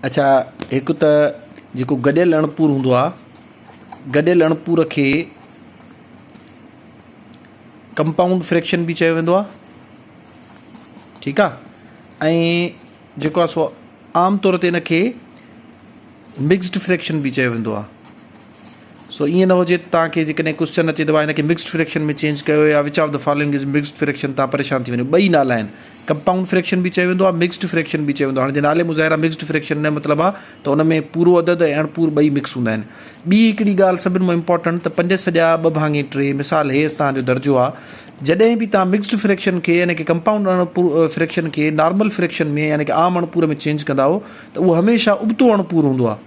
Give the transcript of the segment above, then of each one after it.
اڇا هڪ ته جيڪو گڏيل اڻپور هوندو آ گڏيل اڻپور کي ڪمپائونڊ فريڪشن به چيو ويندو آ ٺيڪ آ ۽ جيڪو آ سو عام طور تي ان کي مڪسڊ فريڪشن به چيو ويندو آ سو ائين نه هجي ته توهان کي جيڪڏهن ڪوسچن اچي ته وا هن کي مڪسڊ فريڪشن ۾ چينج ڪيو يا which of the following is mixed fraction توهان پريشان ٿي وڃو. ٻئي نالا آهن. ڪمپائونڊ فريڪشن به چيو ويندو آهي مڪسڊ فريڪشن به چيو ويندو آهي. هاڻي جي نالي مظاهره مڪسڊ فريڪشن نه مطلب آهي ته ان ۾ پورو عدد ۽ اڻ پور ٻئي مڪس هوندا آهن. ٻي هڪڙي ڳالهه سڀن مان امپارٽنٽ ته پنج سڄا ٻه ڀاڱي ٽي مثال هيس توهان جو درجو آهي جڏهن به توهان مڪسڊ فريڪشن کي يعني ڪه ڪمپائونڊ اڻ پور فريڪشن کي نارمل فريڪشن ۾ يعني ڪه عام اڻ پور ۾ چينج ڪندا آهو ته اهو هميشه ابتو اڻ پور هوندو آهي.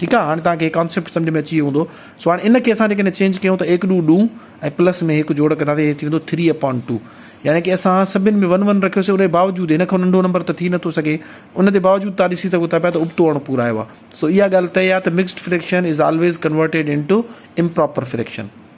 ٺيڪ آ هاڻي توهان کي هي ڪانسيپٽ سمجهه ۾ اچي ويو هوندو سو هاڻي ان کي اسان جيڪڏهن چينج ڪيون ته ايڪ ڏون ڏون ۽ پلس ۾ هڪ جوڙ ڪنداسين هي ٿي ويندو ٿري اپان ٽو يعني ڪي اسان سڀن ۾ ون ون رکيوسين ان جي باوجود هن کان ننڍو نمبر ته ٿي نٿو سگهي ان جي باوجود توهان ڏسي سگهو ٿا پيا ته ابتو اڻ پورا آيو آ سو اها ڳالهه طئي آ ته mixed fraction is always converted into improper fraction.